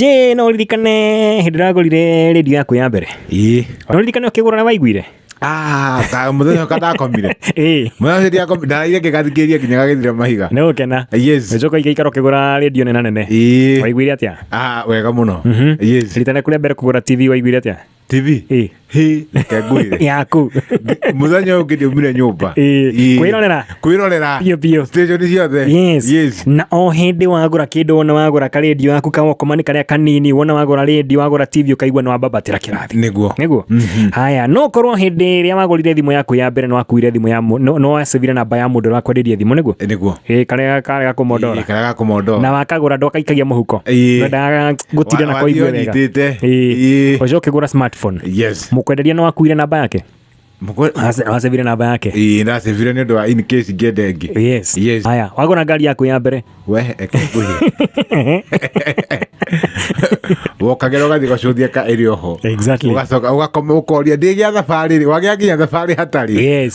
Jĩ no ririkane hĩndĩ ũragũrire redio yaku ya mbere ĩĩ no ririkane ũkĩgũra na waiguire Ah, ta mũthenya ũka ndakomire ĩĩ mũthenya ũcio ndiakomire ndaraire ngĩgathikĩrĩria nginya gagĩthira mahiga nĩ gũkena yes nĩcoka igaikara ũkĩgũra redio nene nene ĩĩ waiguire atĩa Ah, wega mũno yes ritana kũrĩa mbere kũgũra tv waiguire atĩa tv Ĩ. hä reke ngwä yaku må thenya å ngä ndä umire nyå mba Ĩ, kwĩrorera. kwä rorera Biũ, biũ. station ciothe Yes. Yes. na o hĩndĩ wagũra kĩndũ wona wagũra karendio gaku kawokomanĩ karĩa kanini wona wagũra rendio wagũra tv ũkaigua nĩ wambabatĩra kĩrathi nĩguo niguo haya no korwo hĩndĩ ĩrĩa wagũrire thimũ yaku ya mbere nĩ wakuire thimũ ya mũ- no- no wacivire namba ya mũndũ ũrakwenderia thimũ niguo nĩguo Ĩ, karĩa karĩa gakũmondora karĩa gakũmondora na wakagũra ndwakaikagia mũhuko Ĩ. Wendaga ngũtire na kwaigue wega Wanyitĩte. Ĩĩ. Ĩĩ. ũcio ũkĩgũra smartphone Yes. mũkwenderia nĩ wakuire namba yake Mũkwe- Ace- acebire namba yake Ĩĩ, ndacebire nĩ ũndũ wa in case ngende ĩngĩ. yes Yes. haya wagũra ngari yaku ya mbere We, eke ngũhe. wokagĩra ũgathiĩ gũcũthia ka ĩrĩ oho Exactly. ũgacoka ũgakoma ũkoria ndĩgĩa thabarĩ rĩ wagĩa nginya thabarĩ hatarĩ Yes.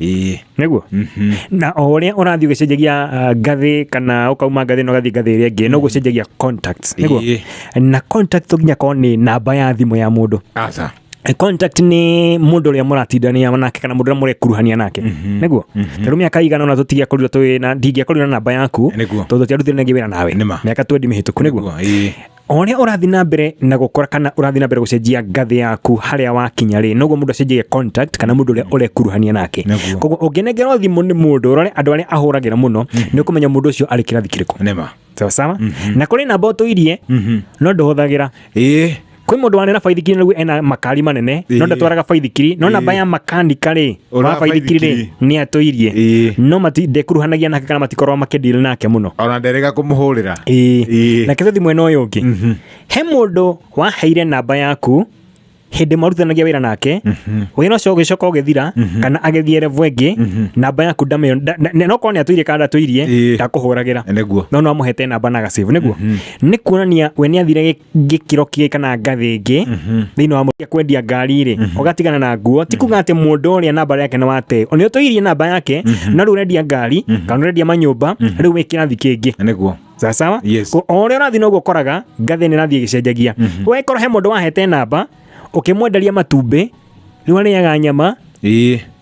ĩĩ nĩguo mhm. na o ũrĩa ũrathiĩ ũgĩcenjagia ah, ngathĩ kana ũkauma ngathĩ na ũgathiĩ ngathĩ ĩrĩa ĩngĩ no gũcenjagia contacts nĩguo Ĩĩ. na contact to nginya korwo nĩ namba ya thimũ ya mũndũ aca Eh, contact nĩ mũndũ ũrĩa mũratindania nake kana mũndũ ũrĩa mũrekuruhania nake nĩguo tarĩu mĩaka igana ona tũtingĩakorirwo twĩ na ndingĩakorirwo na namba yaku Nĩguo. tondũ tiarutire nagĩ wĩra nawe Nĩma. mĩaka twendi mĩhĩtũku nĩguo Nĩguo, ĩĩ. O ũrĩa ũrathiĩ na mbere na gũkora kana ũrathiĩ na mbere gũcenjia ngathĩ yaku harĩa wakinya rĩ noguo mũndũ acenjagia contact kana mũndũ ũrĩa ũrekuruhania nake Nĩguo. koguo ũngĩnengerwo thimũ nĩ mũndũ ũrore andũ arĩa ahũragĩra mũno nĩ ũkũmenya mũndũ ũcio arĩ kĩrathi kĩrĩkũ nĩma sawa sawa na kũrĩ namba ũtũirie no ndũhũthagĩra ĩĩ kwĩ mũndũ wanera baithikiri naguo ena makari manene no Ĩĩ. ndatwaraga baithikiri no namba ya makanika rĩ Ũrabaithikiri rĩ nĩ atũirie Ĩĩ. no mati ndekuruhanagia nake kana matikorwo makĩdeal nake mũno ona nderega kũmũhũrĩra Ĩĩ. Ĩĩ. na kĩbethi mwena ũyũ ũngĩ he mũndũ waheire namba yaku hĩndĩ marutithanagia wĩra nake wĩra ũcio ũgĩcoka ũgĩthira kana agĩthiĩ revo ĩngĩ namba yaku ndamĩona nda- na- na- nokorwo nĩ atũirie kana ndatũirie Ĩĩ. ndakũhũragĩra nĩguo no no amũhete namba na agacĩvu nĩguo nĩ kuonania we nĩ athire gĩ- gikiro kige kana ngathi ngi mhm. thiini wa muria kwendia ngari ri mhm. ugatigana na nguo ti kuga ati mundu uria namba yake ni wate ni utuirie namba yake mhm. na riu urendia ngari kana urendia manyumba riu wi kirathi kingi niguo sawa yes. o ria urathi noguo koraga ngathi ni rathi igicenjagia we korwo he mundu wahete namba ukimwenderia matumbi riu ariaga nyama ii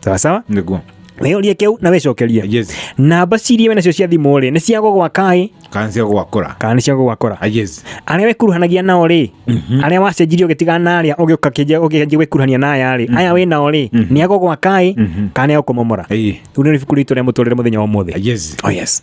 sawa sawa niguo weyorie kĩu na wĩcokerie yes namba ciria wĩ nacio cia thimũ rĩ nĩ cia gũgwakaĩ kansia gwakora kana nĩ cia gũgwakora Ah, yes arĩa wĩkuruhanagia nao rĩ arĩa wacenjirie ũgĩtigana na arĩa ũgĩũka kĩnjia ũgĩkanjia gwĩkuruhania na aya rĩ aya wĩ nao rĩ nĩ agũgwakaĩ kana nĩ agũkũmomora Ĩĩ. rĩu nĩ ibuku ritũ rĩa mũtũrĩre mũthenya wa ũmũthĩ Ah, yes oh yes